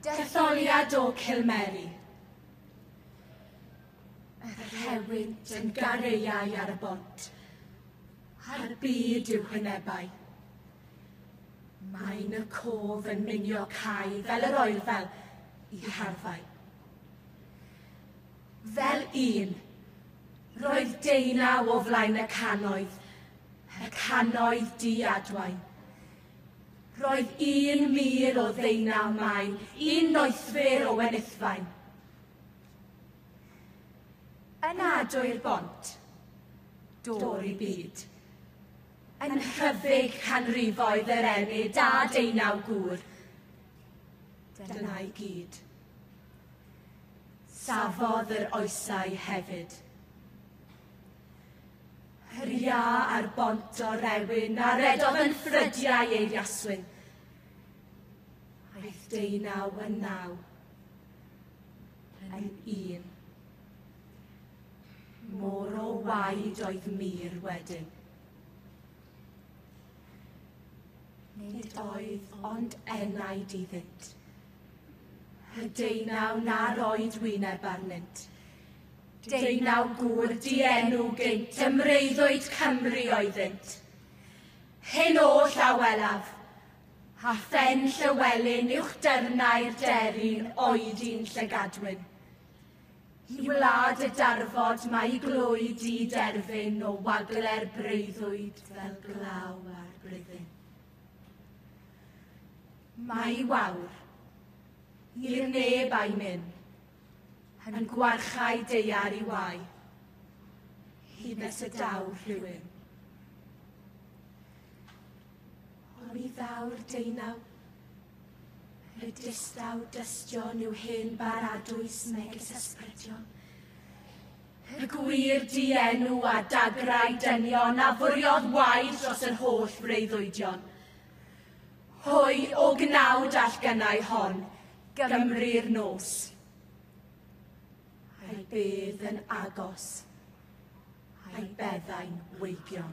Detholiad o Cilmeri. Yr rhewyd yn gareiau ar y bont, a'r byd i'w hwynebau. Mae'n y cof yn minio cae fel yr oerfel i harfau. Fel un. Roedd deunaw o flaen y cannoedd, y cannoedd di adwain. Roedd un mur o ddeunaw maen, un noethwyr o wenithfaen. Yn ado i'r bont, dôr i byd. Yn hyfyg canrifoedd yr enid a deunaw gŵr. Dyna i gyd. Safodd yr oesau hefyd. Hyria ar bont o rewyn a redodd yn ffrydiau ei riaswyn. Aeth deunaw yn naw yn un. Mor o waed oedd mir wedyn. Nid oedd ond enaid iddynt. Y deunaw na roed wyneb arnynt. Deunaw gŵr dienw gynt, ymreiddoed Cymru oeddynt. Hyn oll a welaf, a phen Llywelyn uwch dyrnau'r deryn oedd un llygadwyn. I wlad y darfod mae glwy di derfyn o wagle'r breuddwyd fel glaw ar bryddyn. Mae i wawr, i'r neb a'i myn, yn gwarchau deiar i wai, hyd nes y daw rhywun. Ond mi ddaw'r deunaw, y distaw dystion yw hen baradwys megis ysbrydion, Y gwir dienw a dagrau dynion a fwriodd waed dros yr holl freuddwydion. Hwy o gnawd all gynnau hon, Gymru'r nos. A'i bydd yn agos, a'i beddau'n weigion.